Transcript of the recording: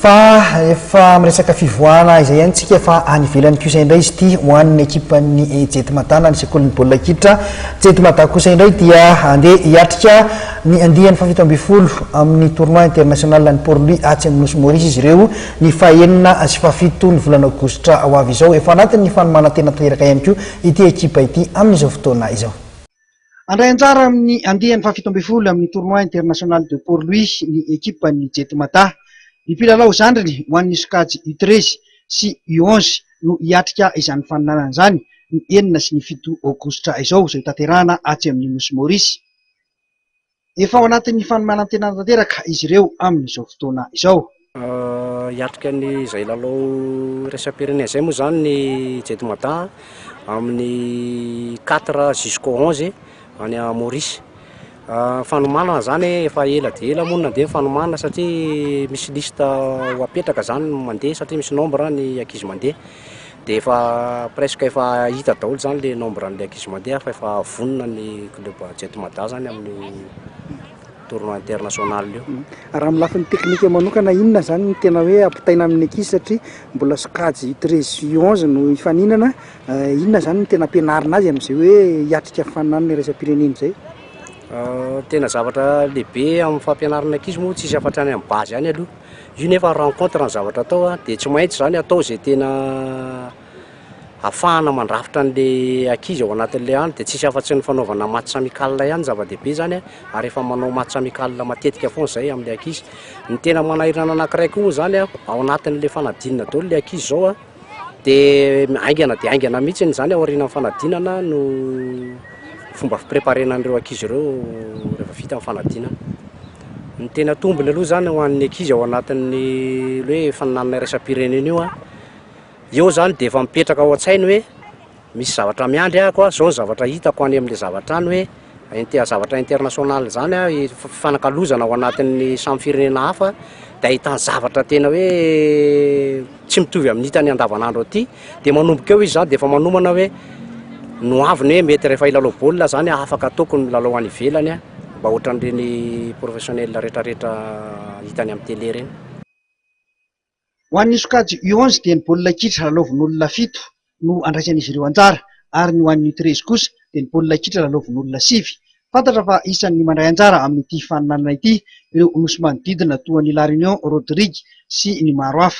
Fa efa miresaka fivoahana izay ihany tsika fa any ivelany kosa indray izy ity ho an'ny ekipan'ny Jetmada-na ny sekolin'ny baolina kitra Jetmada kosa indray dia andeha hiatrika ny andiany fahafito ambin'ny folo amin'ny tournoi international an'i Port-Louis atsy amin'ny nosy Maurice izy ireo ny fahenina sy fahafito ny volana aogositra ho avy izao. Efa anatin'ny fanomanantena tanteraka ihany koa ity ekipa ity amin'izao fotoana izao. Handray anjara amin'ny andiany fahafito ambin'ny folo amin'ny Tournoi International de Port-Louis ny ekipan'ny Jetmata. Ny mpilalao zandriny ho an'ny sokajy U treize sy U onze no hiatrika izany faninanana izany ny enina sy ny fito aogositra izao, izay hotanterahana atsy amin'ny nosy Maorisy. Efa ao anatin'ny fanomanantenana tanteraka izy ireo amin'izao fotoana izao. Hiatrika an'izay lalao iraisam-pirenena izay moa izany ny Jedmada amin'ny quatre jusqu'au onze any Maurice. Ny fanomanana izany efa ela dia ela moa no nandeha ny fanomanana satria misy liste ho apetraka izany ny mandeha satria misy nombre ny ankizy mandeha. dia efa presque efa hita daholo zany le nombre an'ilay ankizy mandeha fa efa vonona ny club Jet Mada zany amin'ny tournoi international io. Mm. Raha amin'ny lafiny teknika manokana inona zany ny tena hoe ampitaina amin'ny ankizy satria mbola sokajy U treize U onze no hifaninana, eh, inona zany ny tena ampianarina azy amin'izay hoe hiatrika fananana iraisam-pirenena izay? Ah, tena zavatra lehibe amin'ny fampianarana ankizy moa tsisy afa-hatrany amin'ny base any aloha. Io nefa rencontre ny zavatra atao a, dia tsy maintsy izany atao izay tena afahana mandrafitra an'ilay ankizy ao anatin'ilay any, dia tsisy afa-tsy ny fanaovana match amical ihany no zava-dehibe izany a, ary efa manao match amical matetika foana izay amin'ilay ankizy. Ny tena manahirana anankiray koa moa izany a, ao anatin'ilay fanadinana daholo ilay ankizy izao a, Dia haingana dia haingana mihitsy izany aorianan'ny fanadinana no fomba fipreparena an'ireo ankizy ireo rehefa vita ny fanadinana. Ny tena tombony aloha izany ho an'ny ankizy ao anatin'ny hoe fanananana iraisam-pirenena io an, eo izany dia efa mipetraka ao an-tsainy hoe misy zavatra miandry ahy koa, zao ny zavatra hitako any amin'le zavatra any hoe inter- zavatra international zany an, i- fifanakalozana ao anatin'ny samy firenena hafa de ahitany zavatra tena hoe tsy mitovy amin'ny hitany andavan'andro aty, de manomboka eo izy zany de efa manomana hoe no avy ny hoe mety rehefa hilalao baolina zany aho afaka ataoko ny milalao any ivelany an, mba ohatran'ireny professionnel retraretra hitany amin'ny tele reny. Ho an'ny sokajy U onze dia ny baolina kitra lalaovin'olona fito no andraisan'izy ireo anjara ary ny ho an'ny U treize kosa dia ny baolina kitra lalaovin'olona sivy. Fantatra fa isan'ny mandray anjara amin'ity faninanana ity ireo nosy manodidina toa an'i La Réunion, Rodrigue sy ny maro hafa.